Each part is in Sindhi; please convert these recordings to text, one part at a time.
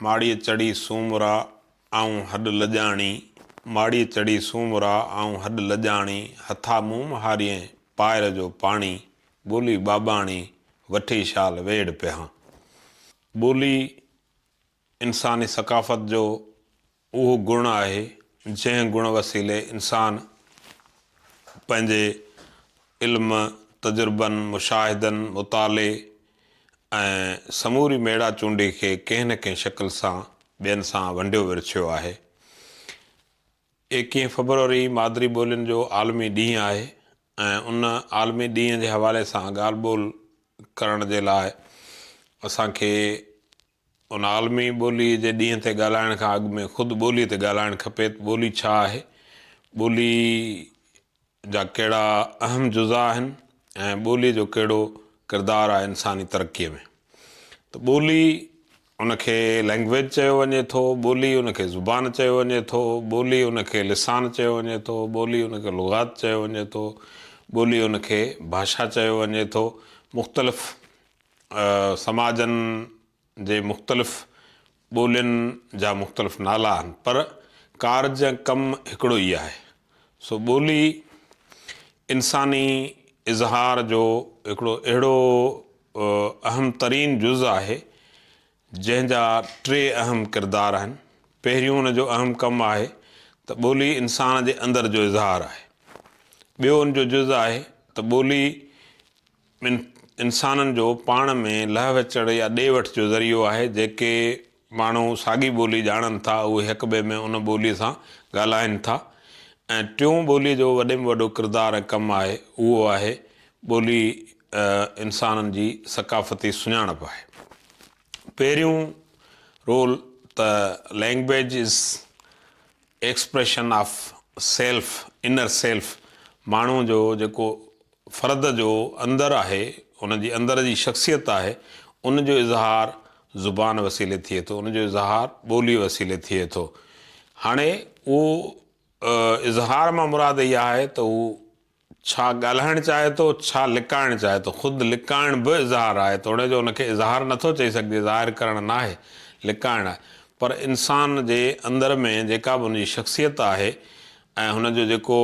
ماڙيء چڙهي سومرا، آئون هڏ لڄاڻي، ماڙيء چڙهي سومرا، آئون هڏ لڄاڻي، هٿا مون مهاريئين، پائر جو پاڻي، ٻولي ٻاٻاڻي، وٺي شال ويڙهه پيهان. ٻولي انساني ثقافت جو اهو گڻ آهي، جنهن گڻ وسيلي انسان پنهنجي علم، تجربن، مشاهدن، مطالعي ۽ سموري ميڙا چونڊي کي ڪنهن نه ڪنهن شڪل سان ٻين سان ونڊيو ورڇيو آهي. ايڪيهين فبروري مادري ٻولين جو عالمي ڏينهن آهي ۽ ان عالمي ڏينهن جي حوالي سان ڳالهه ٻولهه ڪرڻ جي لاء اسان کي ان عالمي ٻوليء جي ڏينهن تي ڳالهائڻ کان اڳ ۾ خود ٻوليء تي ڳالهائڻ کپي ته ٻولي ڇا آهي؟ ٻوليء جا ڪهڙا اهم جزا آهن ۽ ٻوليء جو ڪهڙو ڪردار آهي انساني ترقيء ۾؟ ته ٻولي ان کي Language چيو وڃي ٿو، ٻولي ان کي زبان چيو وڃي ٿو، ٻولي ان کي لسان چيو وڃي ٿو، ٻولي ان کي لغات چيو وڃي ٿو، ٻولي ان کي ڀاشا چيو وڃي ٿو، مختلف سماجن جي مختلف ٻولين جا مختلف نالا آهن پر ڪارج ۽ ڪم هڪڙو ئي آهي. سو ٻولي انساني اظهار جو هڪڙو اهڙو اهم ترين جز آهي جنهن جا ٽي اهم ڪردار آهن. پهريون ان جو اهم ڪم آهي ته ٻولي انسان جي اندر جو اظهار آهي. ٻيو ان جو جز آهي ته ٻولي. ٻن انسانن جو پاڻ ۾ لهه وچڙ يا ڏي وٺ جو ذريعو آهي، جيڪي ماڻهو ساڳي ٻولي ڄاڻن ٿا، اهي هڪٻئي ۾ ان ٻوليء سان ڳالهائين ٿا ۽ ٽيون ٻوليء جو وڏي ۾ وڏو ڪردار ۽ ڪم آهي، اهو آهي ٻولي انسانن جي ثقافتي سڃاڻپ آهي. پهريون رول ته Language is Expression of Self، Inner Self، ماڻهو جو جيڪو فرد جو اندر آهي، ان جي اندر جي شخصيت آهي، ان جو اظهار زبان وسيلي ٿئي ٿو، ان جو اظهار ٻوليء وسيلي ٿئي ٿو. هاڻي اهو اظهار مان مراد اها آهي ته هو ڇا ڳالهائڻ چاهي ٿو، ڇا لڪائڻ چاهي ٿو. خود لڪائڻ به اظهار آهي، توڻي جو ان کي اظهار نٿو چئي سگهجي، ظاهر ڪرڻ ناهي، لڪائڻ آهي. پر انسان جي اندر ۾ جيڪا به ان جي شخصيت آهي ۽ هن جو جيڪو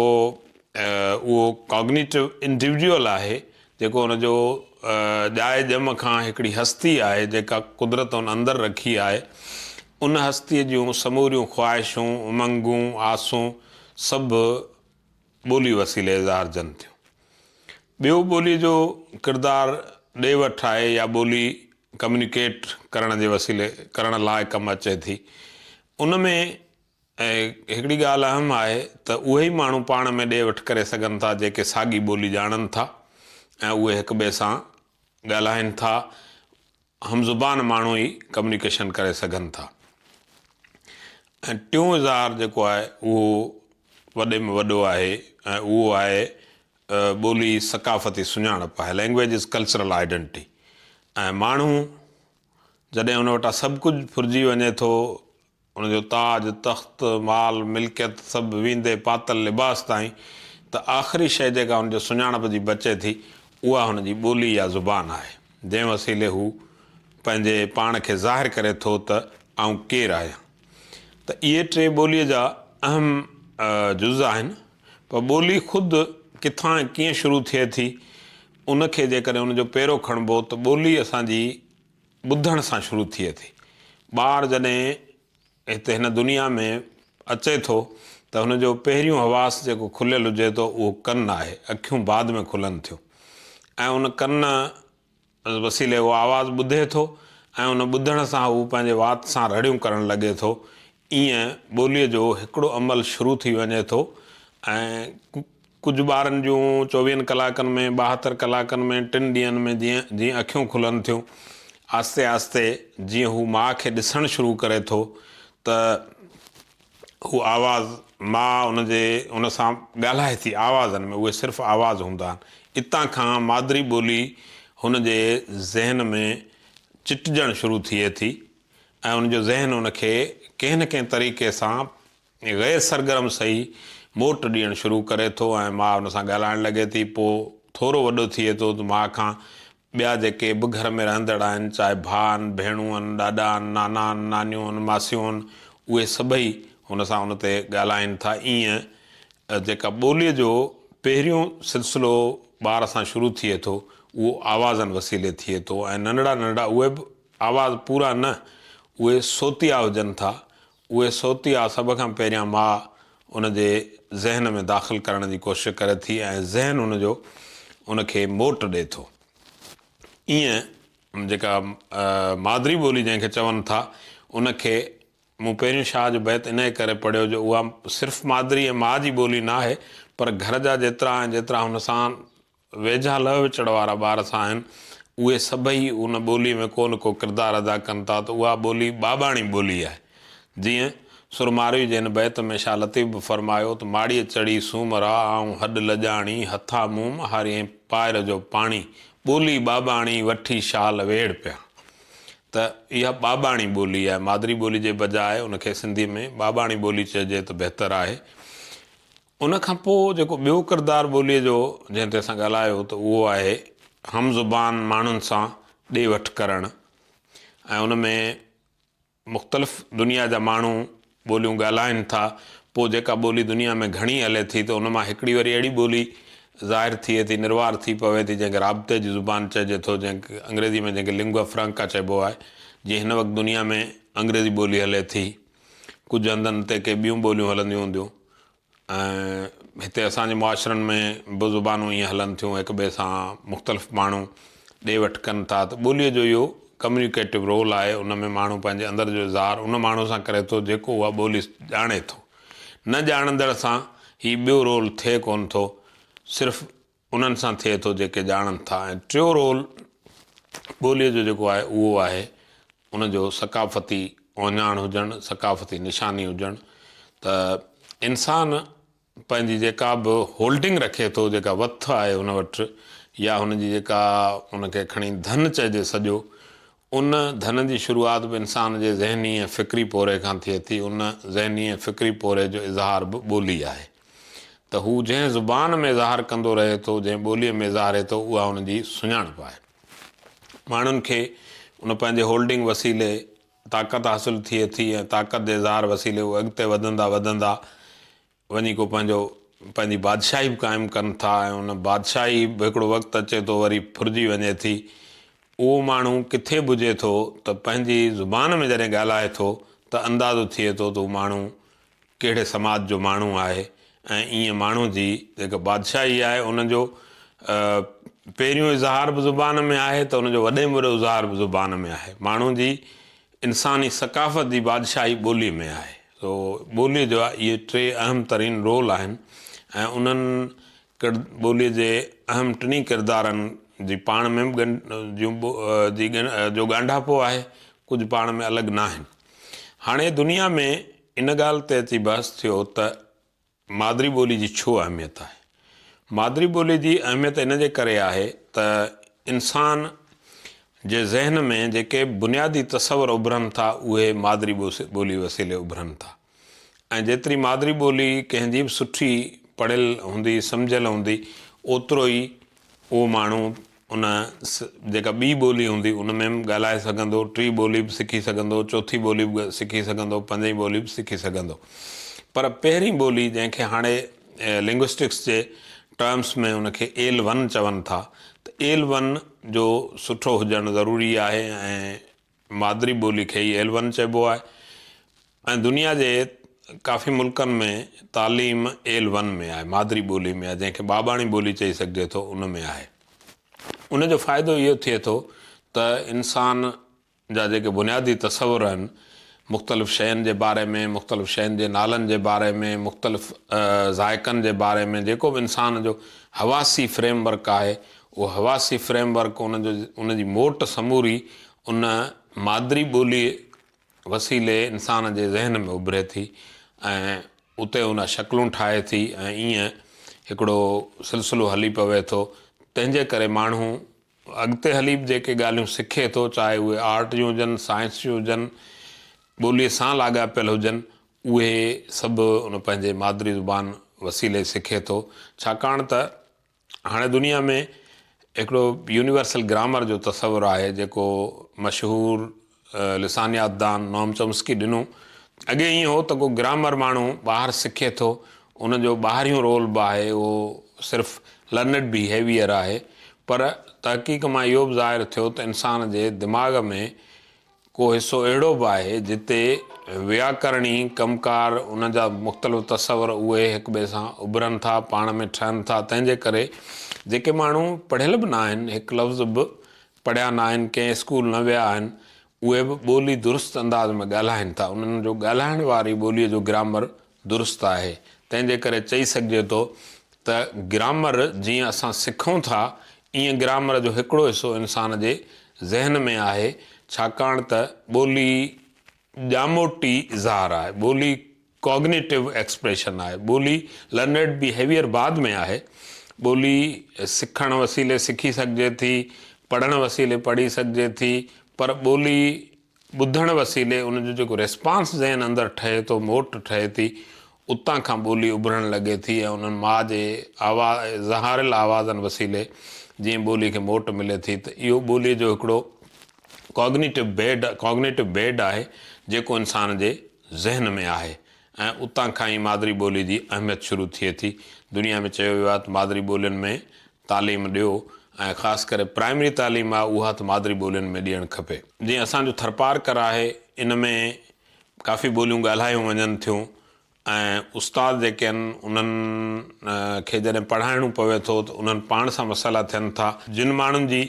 اهو ڪاگنيٽو انڊيوڊيول آهي جيڪو ان جو ڄائي ڄم کان هڪڙي هستي آهي جيڪا قدرت ان اندر رکي آهي. ان هستيء جون سموريون خواهشون، امنگون، آسون سڀ ٻولي وسيلي اظهارجن ٿيون. ٻيو ٻولي جو ڪردار ڏي وٺ آهي يا ٻولي ڪميونيڪيٽ ڪرڻ جي وسيلي ڪرڻ لاء ڪم اچي ٿي. ان ۾ ۽ هڪڙي ڳالهه اهم آهي ته اهي ئي ماڻهو پاڻ ۾ ڏي وٺ ڪري سگهن ٿا جيڪي ساڳي ٻولي ڄاڻن ٿا ۽ اهي هڪ ٻئي سان ڳالهائين ٿا هم زبان ماڻهو ئي ڪميونيڪيشن ڪري سگهن ٿا ۽ ٽيون اظهار جيڪو آهي اهو وڏي ۾ وڏو آهي ۽ اهو آهي ٻولي ثقافتي سڃاڻپ آهي لينگويج از ڪلچرل آئيڊنٽي ۽ ماڻهو جڏهن ان وٽان سڀ ڪجهه ڦرجي وڃي ٿو ان جو تاج، تخت، مال، ملڪيت سڀ ويندي پاتل لباس تائين ته آخري شيء جيڪا هن جي سڃاڻپ جي بچي ٿي اها هن جي ٻولي يا زبان آهي جنهن وسيلي هو پنهنجي پاڻ کي ظاهر ڪري ٿو ته آئون ڪير آهيان ته اهي ٽي ٻوليء جا اهم جز آهن پر ٻولي خود ڪٿان ۽ ڪيئن شروع ٿئي ٿي ان کي جيڪڏهن ان جو پيرو کڻبو ته ٻولي اسان جي ٻڌڻ سان شروع ٿئي ٿي. ٻار جڏهن هتي هن دنيا ۾ اچي ٿو ته هن جو پهريون حواس جيڪو کليل هجي ٿو اهو ڪن آهي. اکيون بعد ۾ کلن ٿيون ۽ ان ڪن وسيلي هو آواز ٻڌي ٿو ۽ ان ٻڌڻ سان هو پنهنجي وات سان رڙيون ڪرڻ لڳي ٿو. ايئن ٻوليء جو هڪڙو عمل شروع ٿي وڃي ٿو ۽ ڪجهه ٻارن جون چوويهن ڪلاڪن ۾ ٻاهتر ڪلاڪن ۾ ٽن ڏينهن ۾ جيئن جيئن اکيون کلن ٿيون آهستي آهستي جيئن هو ماء کي ڏسڻ شروع ڪري ٿو ته هو آواز ماء ان جي ان سان ڳالهائي ٿي آوازن ۾ اهي صرف آواز هوندا آهن اتان کان مادري ٻولي هن جي ذهن ۾ چٽجڻ شروع ٿئي ٿي ۽ ان جو ذهن ان کي ڪنهن نه ڪنهن طريقي سان غير سرگرم سهي موٽ ڏيڻ شروع ڪري ٿو ۽ ماء ان سان ڳالهائڻ لڳي ٿي. پوء ٿورو وڏو ٿئي ٿو ته ماء کان ٻيا جيڪي به گهر ۾ رهندڙ آهن چاهي ڀاء آهن، ڀيڻون آهن، ڏاڏا آهن، نانا آهن، نانيون آهن، ماسيون آهن اهي سڀئي هن سان ان تي ڳالهائين ٿا. ايئن جيڪا ٻوليء جو پهريون سلسلو ٻار سان شروع ٿئي ٿو اهو آوازن وسيلي ٿئي ٿو ۽ ننڍڙا ننڍڙا اهي به آواز پورا نه اهي صوتيا هجن ٿا، اهي صوتيا سڀ کان پهريان ماء ان جي ذهن ۾ داخل ڪرڻ جي ڪوشش ڪري ٿي ۽ ذهن ان جو ان کي موٽ ڏئي ٿو. ايئن جيڪا مادري ٻولي جنهن کي چون ٿا ان کي مون پهريون شاهه جو بيت انهيء ڪري پڙهيو جو اها صرف مادري ۽ ماء جي ٻولي نه آهي پر گهر جا جيترا ۽ جيترا هن سان ويجها لئه وچڙ وارا ٻار سا آهن، اهي سڀئي ان ٻوليء ۾ ڪو نه ڪو ڪردار ادا ڪن ٿا ته اها ٻولي ٻاٻاڻي ٻولي آهي. جيئن سرماروي جي هن بيت ۾ شاهه لطيف به فرمايو ته ماڙيء چڙهي سوم را آئون هڏ لڄاڻي، هٿا موم هاريين پائر جو پاڻي، ٻولي ٻاٻاڻي وٺي شال ويڙهه پيا. ته اها ٻاٻاڻي ٻولي آهي. مادري ٻولي جي بجاء ان کي سنڌيء ۾ ٻاٻاڻي ٻولي چئجي ته بهتر آهي. ان کان پوء جيڪو ٻيو ڪردار ٻوليء جو جنهن تي اسان ڳالهايو ته اهو آهي هم زبان ماڻهن سان ڏي وٺ ڪرڻ ۽ ان ۾ مختلف دنيا جا ماڻهو ٻوليون ڳالهائين ٿا پوء جيڪا ٻولي دنيا ۾ گهڻي هلي ٿي ته ان مان هڪڙي وري اهڙي ٻولي ظاهر ٿئي ٿي نروار ٿي پوي ٿي جنهن کي رابطي جي زبان چئجي ٿو جنهن کي انگريزي ۾ جنهن کي Lingua Franca چئبو آهي جيئن هن وقت دنيا ۾ انگريزي ٻولي هلي ٿي. ڪجهه هنڌن تي ڪي ٻيون ٻوليون هلنديون هونديون ۽ هتي اسان جي معاشرن ۾ به زبانون ائين هلن ٿيون هڪ ٻئي سان مختلف ماڻهو ڏي وٺ ڪن ٿا ته ٻوليء جو اهو ڪميونيڪيٽو رول آهي ان ۾ ماڻهو پنهنجي اندر جو اظهار ان ماڻهو سان ڪري ٿو جيڪو اها ٻولي ڄاڻي ٿو نه ڄاڻندڙ سان هي ٻيو رول ٿئي ڪونه ٿو صرف انهن سان ٿئي ٿو جيڪي ڄاڻن ٿا ۽ ٽيون رول ٻوليء جو جيڪو آهي اهو آهي ان جو ثقافتي اوهڃاڻ هجڻ، ثقافتي نشاني هجڻ ته انسان پنهنجي جيڪا به هولڊنگ رکي ٿو جيڪا وٿ آهي هن وٽ يا هن جي جيڪا ان کي کڻي ڌن چئجي سڄو ان ڌن جي شروعات به انسان جي ذهني ۽ فڪري پورهئي کان ٿئي ٿي. ان ذهني ۽ فڪري پورهئي جو اظهار به ٻولي آهي. ته هو جنهن زبان ۾ اظهار ڪندو رهي ٿو، جنهن ٻوليء ۾ اظهاري ٿو، اها ان جي سڃاڻپ آهي. ماڻهن کي ان پنهنجي هولڊنگ وسيلي طاقت حاصل ٿئي ٿي ۽ طاقت جي اظهار وسيلي هو اڳتي وڌندا وڌندا وڃي ڪو پنهنجو پنهنجي بادشاهي به قائم ڪن ٿا ۽ ان بادشاهي به هڪڙو وقت اچي ٿو وري ڦرجي وڃي ٿي. اهو ماڻهو ڪٿي به هجي ٿو ته پنهنجي زبان ۾ جڏهن ڳالهائي ٿو ته اندازو ٿئي ٿو ته هو ماڻهو ڪهڙي سماج جو ماڻهو آهي ۽ ايئن ماڻهو جي جيڪا بادشاهي آهي ان جو پهريون اظهار به زبان ۾ آهي ته ان جو وڏي ۾ وڏو اظهار به زبان ۾ آهي. ماڻهو جي انساني ثقافت جي بادشاهي ٻولي ۾ آهي. سو ٻوليء جا اهي ٽي اهم ترين رول آهن ۽ انهن ڪرد ٻوليء جي اهم ٽنهي ڪردارن جي پاڻ ۾ به جون جي جو ڳانڍاپو آهي، ڪجهه پاڻ ۾ الڳ ناهن. هاڻي دنيا ۾ ان ڳالهه تي اچي بحث ٿيو ته. مادري ٻولي جي ڇو اهميت آهي؟ مادري ٻولي جي اهميت ان جي ڪري آهي ته انسان جي ذهن ۾ جيڪي بنيادي تصور اڀرن ٿا اهي مادري ٻولي وسيلي اڀرن ٿا ۽ جيتري مادري ٻولي ڪنهن جي به سٺي پڙهيل هوندي سمجهيل هوندي اوترو ئي اهو ماڻهو ان جيڪا ٻي ٻولي هوندي ان ۾ به ڳالهائي سگهندو، ٽي ٻولي به سکي سگهندو، چوٿي ٻولي به سکي سگهندو، پنجين ٻولي به سکي سگهندو. پر پهرين ٻولي جنهن کي هاڻي لنگوسٽڪس جي ٽرمس ۾ ان کي ايل ون چون ٿا ته ايل ون جو سٺو هجڻ ضروري آهي ۽ مادري ٻولي کي ئي ايل ون چئبو آهي ۽ دنيا جي ڪافي ملڪن ۾ تعليم ايل ون ۾ آهي، مادري ٻولي ۾ آهي، جنهن کي ٻاٻاڻي ٻولي چئي سگهجي ٿو ان ۾ آهي. ان جو فائدو اهو ٿئي ٿو ته انسان جا جيڪي بنيادي تصور آهن مختلف شين جي باري ۾، مختلف شين جي نالن جي باري ۾، مختلف ذائقن جي باري ۾ جيڪو به انسان جو حواسي فريم ورڪ آهي اهو حواسي فريم ورڪ ان جو ان جي موٽ سموري ان مادري ٻوليء وسيلي انسان جي ذهن ۾ اڀري ٿي ۽ اتي ان شڪلون ٺاهي ٿي ۽ ائين هڪڙو سلسلو هلي پوي ٿو تنهن جي ڪري ماڻهو اڳتي هلي به جيڪي ڳالهيون سکي ٿو چاهي اهي آرٽ جون هجن سائنس جون هجن ٻوليء سان لاڳاپيل هجن اهي سڀ ان پنهنجي مادري زبان وسيلي سکي ٿو ڇاڪاڻ ته هاڻي دنيا ۾ هڪڙو يونيورسل گرامر جو تصور آهي جيڪو مشهور لسانيات دان نوم چومسڪي ڏنو. اڳي ائين هو ته ڪو گرامر ماڻهو ٻاهر سکي ٿو ان جو ٻاهريون رول به آهي اهو صرف لرنڊ بيهيويئر آهي پر تحقيق مان اهو به ظاهر ٿيو ته انسان جي دماغ ۾ ڪو حصو اهڙو به آهي جتي وياڪرڻي ڪم ڪار ان جا مختلف تصور اهي هڪٻئي سان اڀرن ٿا، پاڻ ۾ ٺهن ٿا، تنهن جي ڪري جيڪي ماڻهو پڙهيل به نه آهن، هڪ لفظ به پڙهيا نه آهن، ڪنهن اسڪول نه ويا آهن، اهي به ٻولي درست انداز ۾ ڳالهائين ٿا، انهن جو ڳالهائڻ واري ٻوليء جو گرامر درست آهي. تنهن جي ڪري چئي سگهجي ٿو ته گرامر جيئن اسان سکون ٿا، ايئن گرامر جو هڪڙو حصو انسان جي ذهن ۾ آهي، ڇاڪاڻ ته ٻولي ڄاموٽي اظهار آهي، ٻولي Cognitive Expression آهي، ٻولي Learned Behaviour بعد ۾ آهي، ٻولي سکڻ وسيلي سکي سگهجي ٿي، پڙهڻ وسيلي پڙهي سگهجي ٿي، پر ٻولي. ٻڌڻ وسيلي ان جو جيڪو ريسپانس ذهن اندر ٺهي ٿو، موٽ ٺهي ٿي، اتان کان ٻولي اڀرڻ لڳي ٿي ۽ انهن ماء جي آوا زهاريل آوازن وسيلي جيئن ٻولي کي موٽ ملي ٿي ته اهو ٻولي جو هڪڙو ڪاگنيٽو بيڊ Cognitive Bed آهي جيڪو انسان جي ذهن ۾ آهي ۽ اتان کان ئي مادري ٻولي جي اهميت شروع ٿئي ٿي. دنيا ۾ چيو ويو آهي ته مادري ٻولين ۾ تعليم ڏيو ۽ خاص ڪري پرائمري تعليم آ اها ته مادري ٻولين ۾ ڏيڻ کپي. جيئن اسان جو ٿرپارڪر آهي ان ۾ ڪافي ٻوليون ڳالهايون وڃن ٿيون ۽ استاد جيڪي آهن انهن کي جڏهن پڙهائڻو پوي ٿو ته انهن پاڻ سان مسئلا ٿين ٿا. جن ماڻهن جي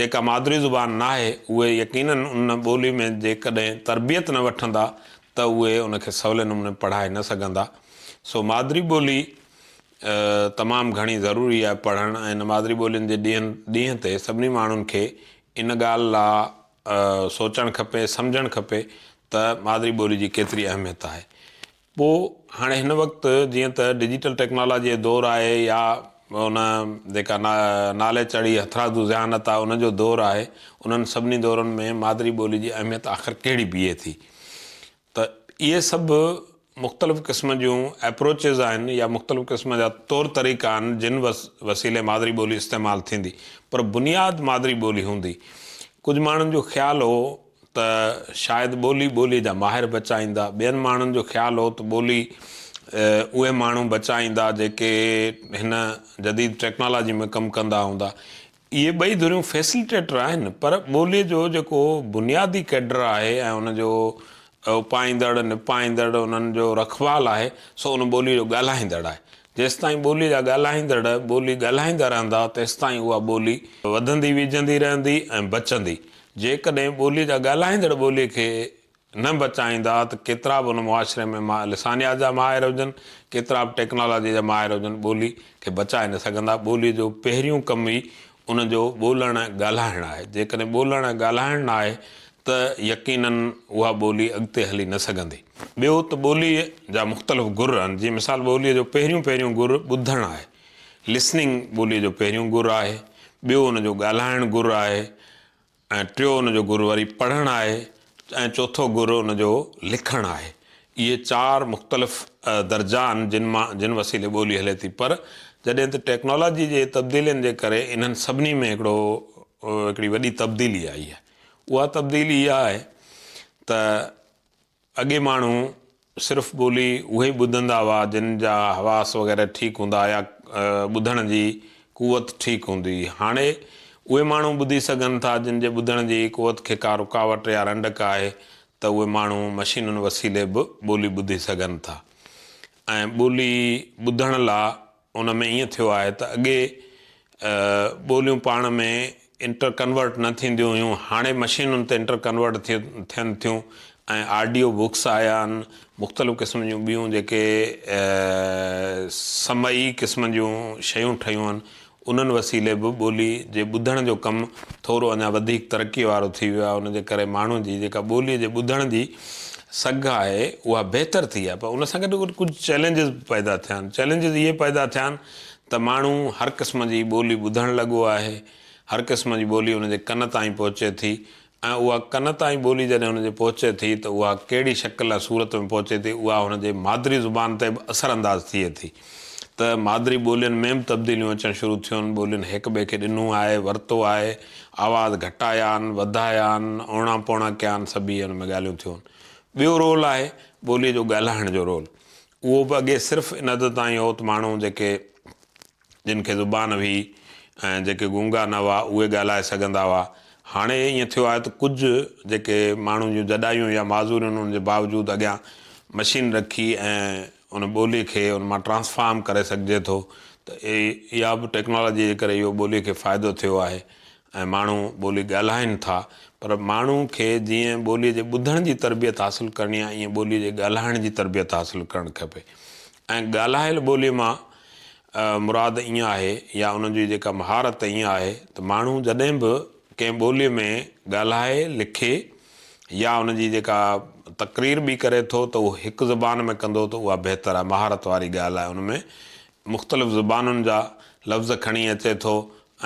جيڪا مادري زبان ناهي اهي يقيناً ان ٻولي ۾ جيڪڏهن تربيت نه وٺندا ته اهي ان کي سولي نموني پڙهائي نه سگهندا سو مادري ٻولي تمام گهڻي ضروري آهي پڙهڻ ۽ مادري ٻولين جي ڏينهن تي سڀني ماڻهن کي ان ڳالهه لا سوچڻ کپي سمجهڻ کپي ته مادري ٻولي جي ڪيتري اهميت آهي پو هاڻي هن وقت جيئن ته ڊجيٽل ٽيڪنالاجي جو دور آهي يا ان جيڪا نالي چڙهي هٿرادو ذهانت آهي ان جو دور آهي انهن سڀني دورن ۾ مادري ٻولي جي اهميت آخر ڪهڙي بيهي ٿي ته اهي سڀ مختلف قسم جون ايپروچز آهن يا مختلف قسم جا طور طريقا آهن جن وسيلي مادري ٻولي استعمال ٿيندي پر بنياد مادري ٻولي هوندي. ڪجهه ماڻهن جو خيال هو ته شايد ٻولي ٻولي جا ماهر بچائيندا، ٻين ماڻهن جو خيال هو ته ٻولي اهي ماڻهو بچائيندا جيڪي هن جديد ٽيڪنالاجي ۾ ڪم ڪندا هوندا. اهي ٻئي ڌريون فيسليٽيٽر آهن پر ٻوليء جو جيڪو بنيادي ڪيڊر آهي ۽ ان جو اپائيندڙ، نپائيندڙ، انهن جو رکوال آهي سو ان ٻوليء جو ڳالهائيندڙ آهي. جيستائين ٻوليء جا ڳالهائيندڙ ٻولي ڳالهائيندا رهندا تيستائين اها ٻولي وڌندي ويجهندي رهندي ۽ بچندي. جيڪڏهن ٻوليء جا ڳالهائيندڙ ٻوليء کي نه بچائيندا ته ڪيترا به ان معاشري ۾ ما لسانيات جا ماهر هجن، ڪيترا به ٽيڪنالاجي جا ماهر هجن ٻولي کي بچائي نه سگهندا. ٻولي جو پهريون ڪم ئي ان جو ٻولڻ ۽ ڳالهائڻ آهي. جيڪڏهن ٻولڻ ۽ ڳالهائڻ نه آهي ته يقيناً اها ٻولي اڳتي هلي نه سگهندي. ٻيو ته ٻوليء جا مختلف گر آهن، جيئن مثال ٻوليء جو پهريون پهريون گر ٻڌڻ آهي، Listening، ٻوليء جو پهريون گر آهي، ٻيو ان جو ڳالهائڻ گر آهي، ۽ ٽيو ان جو گر وري پڙهڻ آهي ۽ چوٿو گر ان جو لکڻ آهي. اهي چار مختلف درجا آهن جن مان جن وسيلي ٻولي هلي ٿي پر جڏهن ته ٽيڪنالاجي جي تبديلين جي ڪري انهن سڀني ۾ هڪڙو هڪڙي وڏي تبديلي آئي آهي اها تبديلي اها آهي ته اڳي ماڻهو صرف ٻولي اهي ئي ٻڌندا هئا جن جا حواس وغيره ٺيڪ هوندا يا ٻڌڻ جي قوت ٺيڪ هوندي هئي. هاڻي اهي ماڻهو ٻڌي سگهن ٿا جن جي ٻڌڻ جي قوت کي ڪا رڪاوٽ يا رنڊڪ آهي ته اهي ماڻهو مشينن وسيلي به ٻولي ٻڌي سگهن ٿا ۽ ٻولي ٻڌڻ لا ان ۾ ائين ٿيو آهي ته اڳي ٻوليون پاڻ ۾ انٽر ڪنورٽ نه ٿينديون هيون هاڻي مشينن تي انٽر ڪنورٽ ٿين ٿيون ۽ آڊيو بڪس آيا آهن مختلف قسم جون ٻيون جيڪي سمعي قسم جون شيون ٺهيون آهن انهن وسيلي به ٻولي جي ٻڌڻ جو ڪم ٿورو اڃا وڌيڪ ترقي وارو ٿي ويو آهي ان جي ڪري ماڻهن جي جيڪا ٻولي جي ٻڌڻ جي سگهه آهي اها بهتر ٿي آهي پر ان سان گڏ گڏ ڪجهه چئلينجز به پيدا ٿيا آهن چئلينجز اهي پيدا ٿيا آهن ته ماڻهو هر قسم جي ٻولي ٻڌڻ لڳو آهي هر قسم جي ٻولي ان جي ڪن تائين پهچي ٿي ۽ اها ڪن تائين ٻولي جڏهن ان جي پهچي ٿي ته اها ڪهڙي شڪل ۽ صورت ۾ پهچي ٿي اها هن جي مادري زبان تي به اثر انداز ٿئي ٿي. ته مادري ٻولين ۾ به تبديليون اچڻ شروع ٿيون، ٻولين هڪ ٻئي کي ڏنو آهي، ورتو آهي، آواز گهٽايا آهن، وڌايا آهن، اوڻا پوڻا ڪيا آهن، سڀيئي ان ۾ ڳالهيون ٿيون. ٻيو رول آهي ٻوليء جو ڳالهائڻ جو رول. اهو به اڳي صرف ان حد تائين هو ته ماڻهو جيڪي جن کي زبان هئي ۽ جيڪي گونگا نه هئا اهي ڳالهائي سگهندا هئا. هاڻي ائين ٿيو آهي ته ڪجهه جيڪي ماڻهن جون جڏايون يا معذوريون انهن جي باوجود اڳيان مشين رکي ۽ ان ٻولي کي ان مان ٽرانسفارم ڪري سگهجي ٿو ته اها به ٽيڪنالاجي جي ڪري اهو ٻولي کي فائدو ٿيو آهي ۽ ماڻهو ٻولي ڳالهائين ٿا پر ماڻهو کي جيئن ٻولي جي ٻڌڻ جي تربيت حاصل ڪرڻي آهي ايئن ٻولي جي ڳالهائڻ جي تربيت حاصل ڪرڻ کپي ۽ ڳالهايل ٻولي مان مراد ائين آهي يا ان جي جيڪا مهارت ائين آهي ته ماڻهو جڏهن به ڪنهن ٻولي ۾ ڳالهائي لکي يا ان جي جيڪا تقرير به ڪري ٿو ته اهو هڪ زبان ۾ ڪندو ته اها بهتر آهي مهارت واري ڳالهه آهي ان ۾ مختلف زبانن جا لفظ کڻي اچي ٿو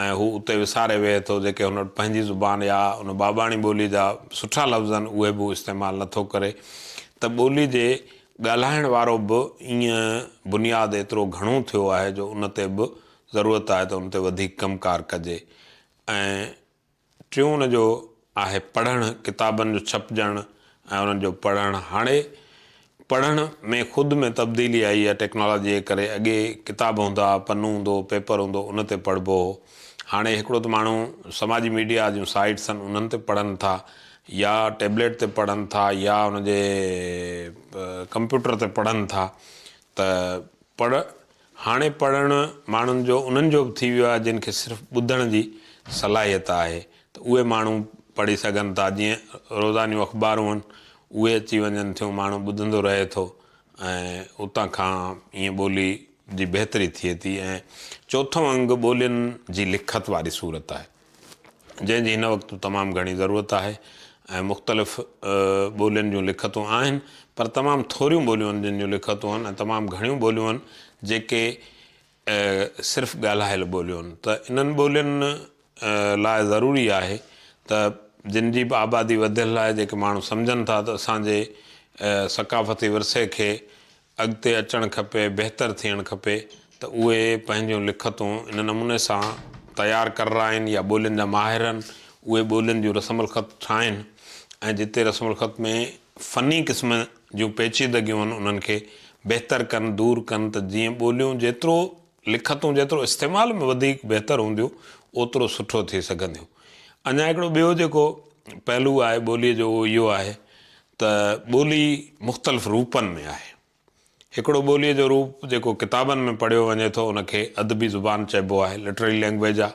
۽ هو اتي وساري ويهي ٿو جيڪي هن وٽ پنهنجي زبان يا ان ٻاٻاڻي ٻولي جا سٺا لفظ آهن اهي به هو استعمال نه ٿو ڪري ته ٻولي جي ڳالهائڻ وارو به ائين بنياد ايترو گهڻو ٿيو آهي جو ان تي به ضرورت آهي ته ان تي وڌيڪ ڪم ڪار ڪجي ۽ ٽيون ان جو آهي پڙهڻ، ڪتابن جو ڇپجڻ ۽ انهن جو پڙهڻ. هاڻي پڙهڻ ۾ خود ۾ تبديلي آئي آهي، ٽيڪنالاجيء جي ڪري. اڳي ڪتاب هوندا ها، پنو هوندو هو، پيپر هوندو هو، ان تي پڙهبو هو. هاڻي هڪڙو ته ماڻهو سماجي ميڊيا جون سائيٽس آهن، انهن تي پڙهن ٿا يا ٽيبليٽ تي پڙهن ٿا يا ان جي ڪمپيوٽر تي پڙهن ٿا ته پڙهڻ هاڻي پڙهڻ ماڻهن جو انهن جو به ٿي ويو آهي جن کي صرف ٻڌڻ جي صلاحيت آهي ته اهي ماڻهو پڙهي سگهن ٿا جيئن روزانيون اخبارون هن اهي اچي وڃن ٿيون ماڻهو ٻڌندو رهي ٿو ۽ اتان کان ائين ٻولي جي بهتري ٿئي ٿي ۽ چوٿون انگ ٻولين جي لکت واري صورت آهي. جنهن جي هن وقت تمام گهڻي ضرورت آهي ۽ مختلف ٻولين جون لکتون آهن پر تمام ٿوريون ٻوليون آهن جن جون لکتون آهن ۽ تمام گهڻيون ٻوليون آهن جيڪي صرف ڳالهايل ٻوليون آهن ته انهن ٻولين لاء ضروري آهي ته جن جي به آبادي وڌيل آهي جيڪي ماڻهو سمجهن ٿا ته اسان جي ثقافتي ورثي کي اڳتي اچڻ کپي، بهتر ٿيڻ کپي ته اهي پنهنجون لکتون ان نموني سان تيار ڪررائين يا ٻولين جا ماهرن اهي ٻولين جون رسم الخط ٺاهن ۽ جتي رسم الخط ۾ فني قسم جون پيچيدگيون هن انهن کي بهتر ڪن، دور ڪن ته جيئن ٻوليون جيترو لکتون جيترو استعمال ۾ وڌيڪ بهتر هونديون اوترو سٺو ٿي سگهنديون. اڃا هڪڙو ٻيو جيڪو پهلو آهي ٻوليء جو اهو اهو آهي ته ٻولي مختلف روپن ۾ آهي. هڪڙو ٻوليء جو روپ جيڪو ڪتابن ۾ پڙهيو وڃي ٿو ان کي ادبي زبان چئبو آهي، Literary Language، آ.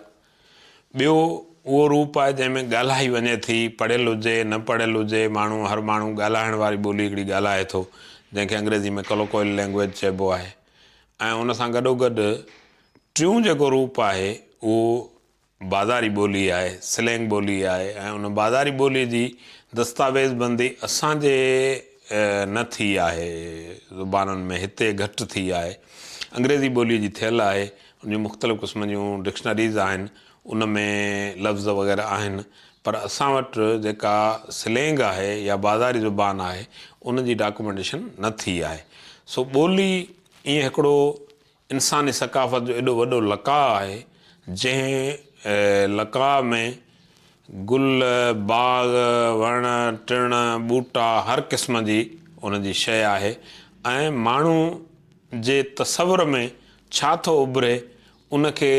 ٻيو اهو روپ آهي جنهن ۾ ڳالهائي وڃي ٿي، پڙهيل هجي، نه پڙهيل هجي، ماڻهو هر ماڻهو ڳالهائڻ واري ٻولي هڪڙي ڳالهائي ٿو جنهن کي انگريزي ۾ Colloquial Language چئبو آهي ۽ ان سان گڏوگڏ ٽيون جيڪو روپ آهي اهو بازاري ٻولي آهي، سلينگ ٻولي آهي ۽ ان بازاري ٻولي جي دستاويز بندي اسان جي نه ٿي آهي زبانن ۾ هتي گهٽ ٿي آهي. انگريزي ٻولي جي ٿيل آهي، ان جون مختلف قسمن جون ڊڪشنريز آهن، ان ۾ لفظ وغيره آهن پر اسان وٽ جيڪا سلينگ آهي يا بازاري زبان آهي ان جي ڊاڪومينٽيشن نه ٿي آهي. سو ٻولي ايئن هڪڙو انساني ثقافت جو ايڏو وڏو لقاء آهي، جنهن لقاء ۾ گل، باغ، وڻ، ٽڻ، ٻوٽا هر قسم جي ان جي شيء آهي ۽ ماڻهو جي تصور ۾ ڇا ٿو اڀري، ان کي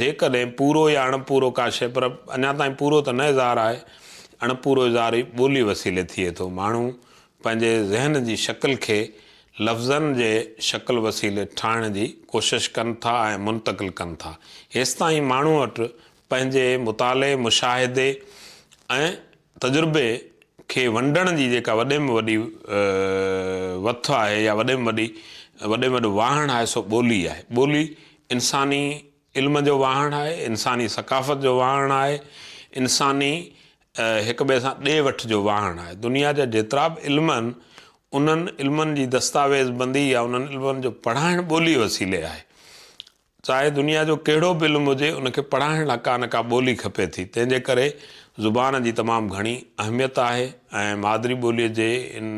جيڪڏهن پورو يا اڻپورو ڪا شيء پر اڃا تائين پورو ته نه اظهار آهي، اڻپورو اظهار ئي ٻوليء وسيلي ٿئي ٿو. ماڻهو پنهنجي ذهن جي شڪل کي لفظن جي شڪل وسيلي ٺاهڻ جي ڪوشش ڪن ٿا ۽ منتقل ڪن ٿا. هيستائين ماڻهو وٽ پنهنجي مطالعي، مشاهدي ۽ تجربي کي ونڊڻ جي جيڪا وڏي ۾ وڏي وٿ آهي يا وڏي ۾ وڏي وڏي ۾ وڏو واهڻ آهي سو ٻولي آهي. ٻولي انساني علم جو واهڻ آهي، انساني ثقافت جو واهڻ آهي، انساني هڪ ٻئي سان ڏي وٺ جو واهڻ آهي. دنيا جا جيترا به علم آهن، انهن علمن جي دستاويز بندي يا انهن علمن جو پڙهائڻ ٻوليء وسيلي آهي. چاهي دنيا جو ڪهڙو به علم هجي، ان کي پڙهائڻ لاء ڪا نه ڪا ٻولي کپي ٿي، تنهن جي ڪري زبان جي تمام گهڻي اهميت آهي ۽ مادري ٻوليء جي ان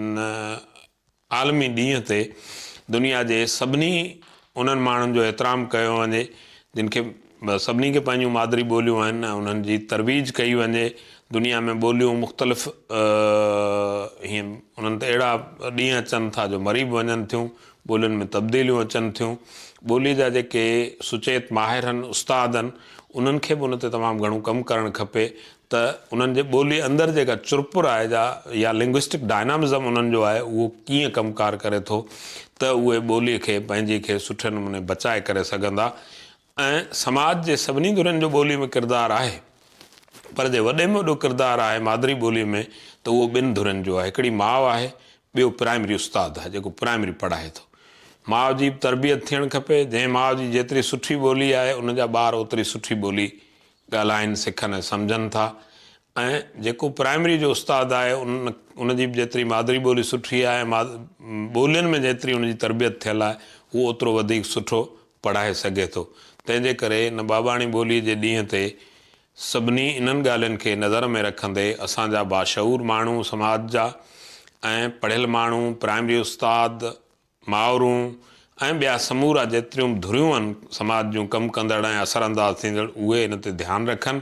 عالمي ڏينهن تي دنيا جي سڀني انهن ماڻهن جو احترام ڪيو وڃي جن کي سڀني کي پنهنجون مادري ٻوليون آهن ۽ انهن جي ترويج ڪئي وڃي دنيا ۾ ٻوليون مختلف هين انهن تي اهڙا ڏينهن اچن ٿا جو مري به وڃن ٿيون ٻولين ۾ تبديليون اچن ٿيون ٻولي جا جيڪي سچيت ماهر هن استاد هن انهن کي به ان تي تمام گهڻو ڪم ڪرڻ کپي ته انهن جي ٻولي اندر جيڪا چرپر آهي جا يا لنگوسٽڪ ڊائنامزم انهن جو آهي اهو ڪيئن ڪم ڪار ڪري ٿو ته اهي ٻولي کي پنهنجي کي سٺي نموني بچائي ڪري سگهندا ۽ سماج جي سڀني ڌرين جو ٻولي ۾ ڪردار آهي پر جي وڏي ۾ وڏو ڪردار آهي مادري ٻولي ۾ ته اهو ٻن ڌرين جو آهي هڪڙي ماء آهي ٻيو پرائمري استاد آهي جيڪو پرائمري پڙهائي ٿو ماء جي به تربيت ٿيڻ کپي جنهن ماء جي جيتري سٺي ٻولي آهي ان جا ٻار اوتري سٺي ٻولي ڳالهائن، سکن ۽ سمجهن ٿا ۽ جيڪو پرائمري جو استاد آهي ان ان جي به جيتري مادري ٻولي سٺي آهي ۽ ماد ٻولين ۾ جيتري ان جي تربيت ٿيل آهي هو اوترو وڌيڪ سٺو پڙهائي سگهي ٿو تنهن جي ڪري ان ٻاٻاڻي ٻولي جي ڏينهن تي سڀني انهن ڳالهين کي نظر ۾ رکندي اسان جا باشعور ماڻهو سماج جا ۽ پڙهيل ماڻهو پرائمري استاد مائورون ۽ ٻيا سمورا جيتريون به ڌريون آهن سماج جون ڪم ڪندڙ ۽ اثر انداز ٿيندڙ اهي ان تي ڌيان رکن.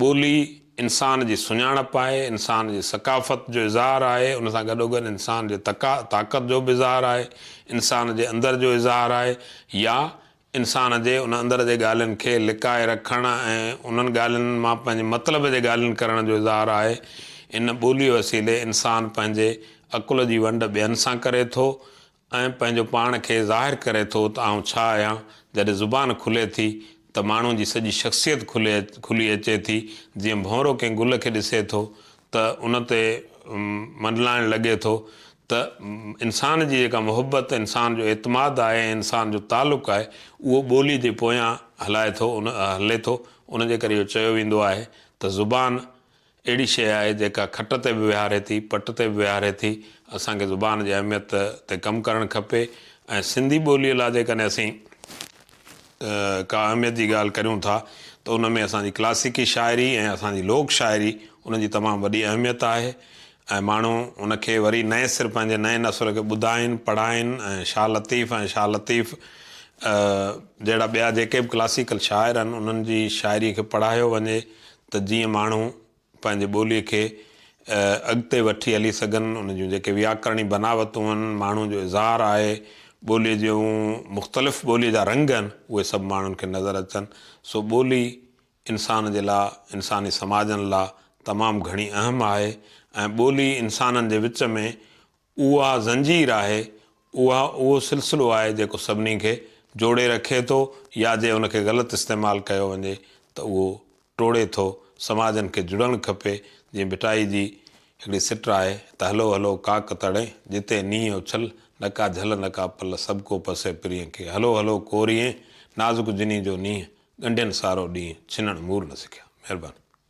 ٻولي انسان جي سڃاڻپ آهي، انسان جي ثقافت جو اظهار آهي، ان سان گڏوگڏ انسان جي طاقت جو به اظهار آهي، انسان جي اندر جو اظهار آهي يا انسان جي ان اندر جي ڳالهين کي لڪائي رکڻ ۽ انهن ڳالهين مان پنهنجي مطلب جي ڳالهين ڪرڻ جو اظهار آهي. ان ٻوليء وسيلي انسان پنهنجي عقل جي ونڊ ٻين سان ڪري ٿو ۽ پنهنجو پاڻ کي ظاهر ڪري ٿو ته آئون ڇا آهيان. جڏهن زبان کلي ٿي ته ماڻهو جي سڄي شخصيت کلي کلي اچي ٿي. جيئن ڀونرو ڪنهن گل کي ڏسي ٿو ته ان تي منڊلائڻ لڳي ٿو ته انسان جي جيڪا محبت، انسان جو اعتماد آهي ۽ انسان جو تعلق آهي اهو ٻولي جي پويان هلائي ٿو هلي ٿو ان جي ڪري اهو چيو ويندو آهي ته زبان اهڙي شيء آهي جيڪا کٽ تي به ويهاري ٿي پٽ تي به ويهاري ٿي اسان کي زبان جي اهميت تي ڪم ڪرڻ کپي ۽ سنڌي ٻولي لا جيڪڏهن اسين ڪا اهميت جي ڳالهه ڪريون ٿا ته ان ۾ اسان جي ڪلاسيڪي شاعري ۽ اسان جي لوڪ شاعري ان جي تمام وڏي اهميت آهي ۽ ماڻهو ان کي وري نئين سر پنهنجي نئين نسل کي ٻڌائين پڙهائين ۽ شاهه لطيف ۽ شاهه لطيف جهڙا ٻيا جيڪي به ڪلاسيڪل شاعر آهن انهن جي شاعري کي پڙهايو وڃي ته جيئن ماڻهو پنهنجي ٻوليء کي اڳتي وٺي هلي سگهن، ان جون جيڪي وياڪرڻي بناوتون هن، ماڻهوء جو اظهار آهي، ٻوليء جون مختلف ٻوليء جا رنگ هن، اهي سڀ ماڻهن کي نظر اچن. سو ٻولي انسان جي لاء، انساني سماجن لاء تمام گهڻي اهم آهي ۽ ٻولي انسانن جي وچ ۾ اها زنجير آهي، اها اهو سلسلو آهي جيڪو سڀني کي جوڙي رکي ٿو يا جي ان کي غلط استعمال ڪيو وڃي ته اهو ٽوڙي ٿو، سماجن کي جڙڻ کپي، جيئن ڀٽائي جي هڪڙي سٽ آهي ته هلو هلو ڪاڪ تڙين، جتي نينهن اڇل، نه ڪا جهل نه ڪا پل، سڀ ڪو پسي پرينء کي، هلو هلو ڪوريئين، نازڪ جنين جو نينهن، ڳنڍين سارو ڏينهن، ڇنڻ مور نه سکيا. مهرباني.